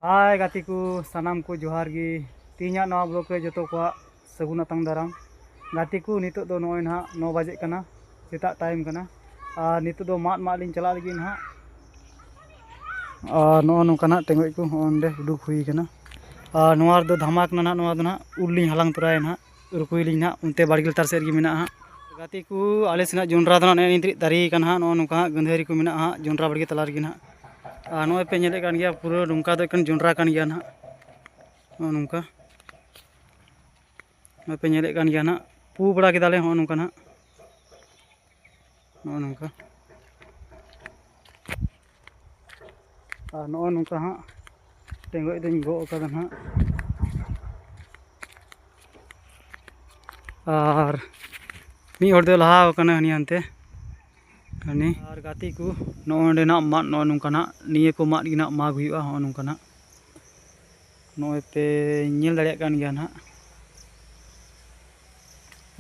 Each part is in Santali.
ᱦᱟᱭ ᱜᱟᱛᱮ ᱠᱚ ᱥᱟᱱᱟᱢ ᱠᱚ ᱡᱚᱦᱟᱨ ᱜᱮ ᱛᱮᱦᱮᱧᱟᱜ ᱱᱚᱣᱟ ᱵᱞᱚᱜ ᱨᱮ ᱡᱚᱛᱚ ᱠᱚᱣᱟᱜ ᱥᱟᱹᱜᱩᱱ ᱟᱛᱟᱝ ᱫᱟᱨᱟᱢ ᱜᱟᱛᱮ ᱠᱚ ᱱᱤᱛᱚᱜ ᱫᱚ ᱱᱚᱜᱼᱚᱭ ᱱᱟᱦᱟᱜ ᱱᱚ ᱵᱟᱡᱮᱜ ᱠᱟᱱᱟ ᱥᱮᱛᱟᱜ ᱴᱟᱭᱤᱢ ᱠᱟᱱᱟ ᱟᱨ ᱱᱤᱛᱚᱜ ᱫᱚ ᱢᱟᱫ ᱢᱟᱫ ᱞᱤᱧ ᱪᱟᱞᱟᱜ ᱞᱟᱹᱜᱤᱫ ᱱᱟᱦᱟᱜ ᱟᱨ ᱱᱚᱜᱼᱚ ᱱᱚᱝᱠᱟᱱᱟᱜ ᱴᱮᱸᱜᱚᱡ ᱠᱚ ᱦᱚᱸ ᱚᱸᱰᱮ ᱩᱰᱩᱠ ᱦᱩᱭ ᱠᱟᱱᱟ ᱟᱨ ᱱᱚᱣᱟ ᱨᱮᱫᱚ ᱫᱷᱟᱢᱟ ᱠᱟᱱᱟ ᱱᱟᱦᱟᱜ ᱱᱚᱣᱟ ᱫᱚ ᱱᱟᱦᱟᱜ ᱩᱞ ᱞᱤᱧ ᱦᱟᱞᱟᱝ ᱛᱚᱨᱟᱭᱟ ᱱᱟᱦᱟᱜ ᱨᱩᱠᱩᱭᱟᱞᱤᱧ ᱱᱟᱦᱟᱜ ᱚᱱᱛᱮ ᱵᱟᱲᱜᱮ ᱞᱟᱛᱟᱨ ᱥᱮᱫ ᱨᱮᱜᱮ ᱢᱮᱱᱟᱜᱼᱟ ᱦᱟᱸᱜ ᱜᱟᱛᱮ ᱠᱚ ᱟᱞᱮ ᱥᱮᱱᱟᱜ ᱡᱚᱸᱰᱨᱟ ᱫᱚ ᱱᱟᱦᱟᱜ ᱱᱮᱜᱼᱮ ᱱᱤᱛ ᱨᱮ ᱫᱟᱨᱮ ᱠᱟᱱᱟ ᱦᱟᱸᱜ ᱱᱚᱜᱼᱚ ᱱᱚᱝᱠᱟ ᱦᱟᱸᱜ ᱜᱟᱹᱫᱷᱟᱹᱨᱤ ᱠᱚ ᱢᱮᱱᱟᱜᱼᱟ ᱦᱟᱸᱜ ᱡᱚᱸᱰᱨᱟ ᱵᱟᱲᱜᱮ ᱛᱟᱞᱟ ᱨᱮᱜᱮ ᱱᱟᱦᱟᱜ ᱟᱨ ᱱᱚᱜᱼᱚᱭ ᱯᱮ ᱧᱮᱞᱮᱫ ᱠᱟᱱ ᱜᱮᱭᱟ ᱯᱩᱨᱟᱹ ᱱᱚᱝᱠᱟ ᱫᱚ ᱮᱠᱮᱱ ᱡᱚᱸᱰᱨᱟ ᱠᱟᱱ ᱜᱮᱭᱟ ᱱᱟᱦᱟᱜ ᱱᱚᱜᱼᱚ ᱱᱚᱝᱠᱟ ᱱᱚᱜᱼᱚᱭ ᱯᱮ ᱧᱮᱞᱮᱫ ᱠᱟᱱ ᱜᱮᱭᱟ ᱱᱟᱦᱟᱜ ᱯᱩ ᱵᱟᱲᱟ ᱠᱮᱫᱟᱞᱮ ᱱᱚᱜᱼᱚ ᱱᱚᱝᱠᱟ ᱱᱟᱦᱟᱜ ᱱᱚᱜᱼᱚ ᱱᱚᱝᱠᱟ ᱟᱨ ᱱᱚᱜᱼᱚ ᱱᱚᱝᱠᱟ ᱦᱟᱸᱜ ᱴᱮᱸᱜᱚᱡ ᱫᱚᱧ ᱜᱚᱜ ᱟᱠᱟᱫᱟ ᱦᱟᱸᱜ ᱟᱨ ᱢᱤᱫ ᱦᱚᱲ ᱫᱚᱭ ᱞᱟᱦᱟ ᱟᱠᱟᱱᱟ ᱦᱟᱹᱱᱤ ᱦᱟᱱᱛᱮ ᱦᱟᱹᱱᱤ ᱟᱨ ᱜᱟᱛᱮ ᱠᱚ ᱱᱚᱜᱼᱚ ᱱᱚᱸᱰᱮᱱᱟᱜ ᱢᱟᱫ ᱱᱚᱜᱼᱚ ᱱᱚᱝᱠᱟᱱᱟᱜ ᱱᱤᱭᱟᱹ ᱠᱚ ᱢᱟᱫ ᱜᱮ ᱱᱟᱜ ᱢᱟᱜᱽ ᱦᱩᱭᱩᱜᱼᱟ ᱱᱚᱜᱼᱚ ᱱᱚᱝᱠᱟᱱᱟᱜ ᱱᱚᱜᱼᱚᱭ ᱯᱮ ᱧᱮᱞ ᱫᱟᱲᱮᱭᱟᱜ ᱠᱟᱱ ᱜᱮᱭᱟ ᱱᱟᱜ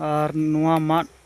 ᱟᱨ ᱱᱚᱣᱟ ᱢᱟᱫ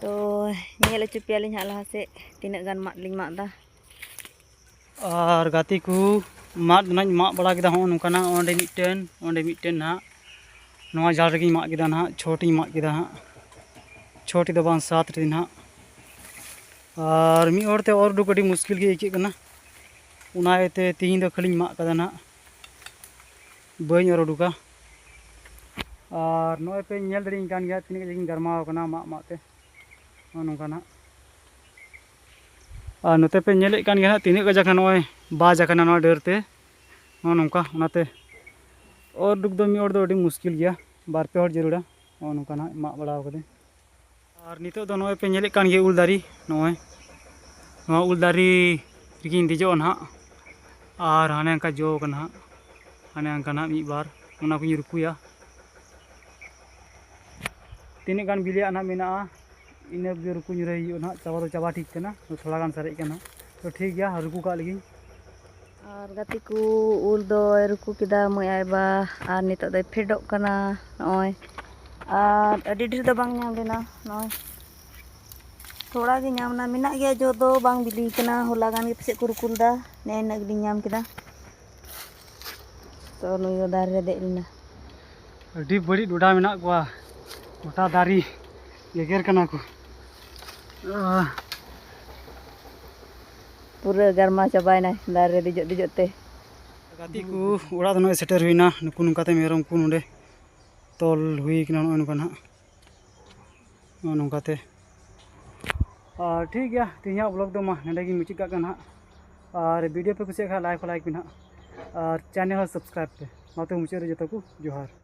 ᱛᱚ ᱧᱮᱞ ᱦᱚᱪᱚ ᱯᱮᱭᱟᱞᱤᱧ ᱦᱟᱸᱜ ᱞᱟᱦᱟ ᱥᱮᱫ ᱛᱤᱱᱟᱹᱜ ᱜᱟᱱ ᱢᱟᱫ ᱞᱤᱧ ᱢᱟᱜ ᱮᱫᱟ ᱟᱨ ᱜᱟᱛᱮ ᱠᱚ ᱢᱟᱫ ᱱᱟᱧ ᱢᱟᱜ ᱵᱟᱲᱟ ᱠᱮᱫᱟ ᱦᱚᱸ ᱱᱚᱝᱠᱟᱱᱟᱜ ᱚᱸᱰᱮ ᱢᱤᱫᱴᱮᱱ ᱚᱸᱰᱮ ᱢᱤᱫᱴᱮᱱ ᱱᱟᱦᱟᱜ ᱱᱚᱣᱟ ᱡᱟᱞ ᱨᱮᱜᱮᱧ ᱢᱟᱜ ᱠᱮᱫᱟ ᱱᱟᱦᱟᱜ ᱪᱷᱚᱴᱤᱧ ᱢᱟᱜ ᱠᱮᱫᱟ ᱦᱟᱸᱜ ᱪᱷᱚᱴᱤ ᱫᱚ ᱵᱟᱝ ᱥᱟᱛ ᱨᱮ ᱱᱟᱦᱟᱜ ᱟᱨ ᱢᱤᱫ ᱦᱚᱲᱛᱮ ᱚᱨ ᱩᱰᱩᱠ ᱟᱹᱰᱤ ᱢᱩᱥᱠᱤᱞ ᱜᱮ ᱟᱹᱭᱠᱟᱹᱜ ᱠᱟᱱᱟ ᱚᱱᱟ ᱤᱭᱟᱹᱛᱮ ᱛᱤᱦᱤᱧ ᱫᱚ ᱠᱷᱟᱹᱞᱤᱧ ᱢᱟᱜ ᱠᱟᱫᱟ ᱱᱟᱦᱟᱜ ᱵᱟᱹᱧ ᱚᱨ ᱩᱰᱩᱠᱟ ᱟᱨ ᱱᱚᱜᱼᱚᱭ ᱯᱮ ᱧᱮᱞ ᱫᱟᱲᱮᱭᱟᱹᱧ ᱠᱟᱱ ᱜᱮᱭᱟ ᱛᱤᱱᱟᱹᱜ ᱠᱟᱡᱟᱠᱤᱧ ᱜᱟᱨᱢᱟᱣ ᱠᱟᱱᱟ ᱢᱟᱜ ᱢᱟᱜ ᱛᱮ ᱱᱚᱜᱼᱚ ᱱᱚᱝᱠᱟ ᱱᱟᱜ ᱟᱨ ᱱᱚᱛᱮ ᱯᱮ ᱧᱮᱞᱮᱫ ᱠᱟᱱ ᱜᱮᱭᱟ ᱦᱟᱸᱜ ᱛᱤᱱᱟᱹᱜ ᱠᱟᱡᱟᱠ ᱱᱚᱜᱼᱚᱭ ᱵᱟᱡ ᱟᱠᱟᱱᱟ ᱱᱚᱣᱟ ᱰᱟᱹᱨ ᱛᱮ ᱱᱚᱜᱼᱚ ᱱᱚᱝᱠᱟ ᱚᱱᱟᱛᱮ ᱚᱨ ᱩᱰᱩᱠ ᱫᱚ ᱢᱤᱫ ᱦᱚᱲ ᱫᱚ ᱟᱹᱰᱤ ᱢᱩᱥᱠᱤᱞ ᱜᱮᱭᱟ ᱵᱟᱨ ᱯᱮ ᱦᱚᱲ ᱡᱟᱹᱨᱩᱲᱟ ᱱᱚᱜᱼᱚ ᱱᱚᱝᱠᱟ ᱱᱟᱜ ᱢᱟᱜ ᱵᱟᱲᱟᱣ ᱠᱟᱹᱫᱟᱹᱧ ᱟᱨ ᱱᱤᱛᱚᱜ ᱫᱚ ᱱᱚᱜᱼᱚᱭ ᱯᱮ ᱧᱮᱞᱮᱫ ᱠᱟᱱ ᱜᱮᱭᱟ ᱩᱞ ᱫᱟᱨᱮ ᱱᱚᱜᱼᱚᱭ ᱱᱚᱣᱟ ᱩᱞ ᱫᱟᱨᱮ ᱨᱮᱜᱮᱧ ᱫᱮᱡᱚᱜᱼᱟ ᱱᱟᱦᱟᱜ ᱟᱨ ᱦᱟᱱᱮ ᱚᱱᱠᱟ ᱡᱚ ᱠᱟᱱᱟ ᱦᱟᱸᱜ ᱦᱟᱱᱮ ᱚᱱᱠᱟ ᱱᱟᱦᱟᱜ ᱢᱤᱫ ᱵᱟᱨ ᱚᱱᱟ ᱠᱚᱧ ᱨᱩᱠᱩᱭᱟ ᱛᱤᱱᱟᱹᱜ ᱜᱟᱱ ᱵᱤᱞᱤᱭᱟᱜ ᱱᱟᱦᱟᱜ ᱢᱮᱱᱟᱜᱼᱟ ᱤᱱᱟᱹ ᱠᱚᱜᱮ ᱨᱩᱠᱩ ᱧᱩᱨᱟᱹᱭ ᱦᱩᱭᱩᱜᱼᱟ ᱱᱟᱦᱟᱜ ᱪᱟᱵᱟ ᱫᱚ ᱪᱟᱵᱟ ᱴᱷᱤᱠ ᱠᱟᱱᱟ ᱛᱷᱚᱲᱟ ᱜᱟᱱ ᱥᱟᱨᱮᱡ ᱠᱟᱱᱟ ᱛᱚ ᱴᱷᱤᱠ ᱜᱮᱭᱟ ᱨᱩᱠᱩ ᱠᱟᱜ ᱞᱮᱜᱤᱧ ᱟᱨ ᱜᱟᱛᱮ ᱠᱚ ᱩᱞ ᱫᱚᱭ ᱨᱩᱠᱩ ᱠᱮᱫᱟ ᱢᱟᱹᱭ ᱟᱭᱵᱟ ᱟᱨ ᱱᱤᱛᱚᱜ ᱫᱚᱭ ᱯᱷᱮᱰᱚᱜ ᱠᱟᱱᱟ ᱱᱚᱜᱼᱚᱭ ᱟᱨ ᱟᱹᱰᱤ ᱰᱷᱮᱨ ᱫᱚ ᱵᱟᱝ ᱧᱟᱢ ᱞᱮᱱᱟ ᱱᱚᱜᱼᱚᱭ ᱛᱷᱚᱲᱟ ᱜᱮ ᱧᱟᱢ ᱮᱱᱟ ᱢᱮᱱᱟᱜ ᱜᱮᱭᱟ ᱡᱚ ᱫᱚ ᱵᱟᱝ ᱵᱤᱞᱤ ᱠᱟᱱᱟ ᱦᱚᱞᱟ ᱜᱟᱱ ᱜᱮ ᱯᱟᱥᱮᱡ ᱠᱚ ᱨᱩᱠᱩ ᱞᱮᱫᱟ ᱱᱮ ᱤᱱᱟᱹᱜ ᱜᱮᱞᱤᱧ ᱧᱟᱢ ᱠᱮᱫᱟ ᱛᱚ ᱱᱩᱭ ᱫᱚ ᱫᱟᱨᱮ ᱨᱮ ᱫᱮᱡ ᱞᱮᱱᱟ ᱟᱹᱰᱤ ᱵᱟᱹᱲᱤᱡ ᱰᱚᱰᱟ ᱢᱮᱱᱟᱜ ᱠᱚᱣᱟ ᱜᱚᱴᱟ ᱫᱟᱨᱮ ᱜᱮᱜᱮᱨ ᱠᱟᱱᱟ ᱠᱚ ᱯᱩᱨᱟᱹ ᱜᱟᱨᱢᱟ ᱪᱟᱵᱟᱭᱮᱱᱟ ᱫᱟᱨᱮ ᱨᱮ ᱫᱮᱡᱚᱜ ᱫᱮᱡᱚᱜ ᱛᱮ ᱜᱟᱛᱮ ᱠᱚ ᱚᱲᱟᱜ ᱫᱚ ᱱᱚᱜᱼᱚᱭ ᱥᱮᱴᱮᱨ ᱦᱩᱭᱱᱟ ᱱᱩᱠᱩ ᱱᱚᱝᱠᱟᱛᱮ ᱢᱮᱨᱚᱢ ᱠᱚ ᱱᱚᱰᱮ ᱛᱚᱞ ᱦᱩᱭ ᱠᱟᱱᱟ ᱱᱚᱜᱼᱚᱭ ᱱᱚᱝᱠᱟ ᱱᱟᱦᱟᱜ ᱱᱚᱜᱼᱚᱭ ᱱᱚᱝᱠᱟᱛᱮ ᱟᱨ ᱴᱷᱤᱠ ᱜᱮᱭᱟ ᱛᱮᱦᱮᱧᱟᱜ ᱵᱞᱚᱜ ᱫᱚ ᱢᱟ ᱱᱚᱰᱮ ᱜᱮ ᱢᱩᱪᱟᱹᱫ ᱠᱟᱜ ᱠᱟᱱᱟ ᱦᱟᱸᱜ ᱟᱨ ᱵᱷᱤᱰᱤᱭᱳ ᱯᱮ ᱠᱩᱥᱤᱭᱟᱜ ᱠᱷᱟᱱ ᱞᱟᱭᱤᱠ ᱞᱟᱭᱤᱠ ᱯᱮ ᱱᱟᱦᱟᱜ ᱟᱨ ᱪᱮᱱᱮᱞ ᱦᱚᱸ ᱥᱟᱵᱥᱠᱨᱟᱭᱤᱵᱽ ᱯᱮ ᱚᱱᱟᱛᱮ ᱢᱩᱪᱟᱹᱫ ᱨᱮ ᱡᱚᱛᱚ ᱠᱚ ᱡᱚᱦᱟᱨ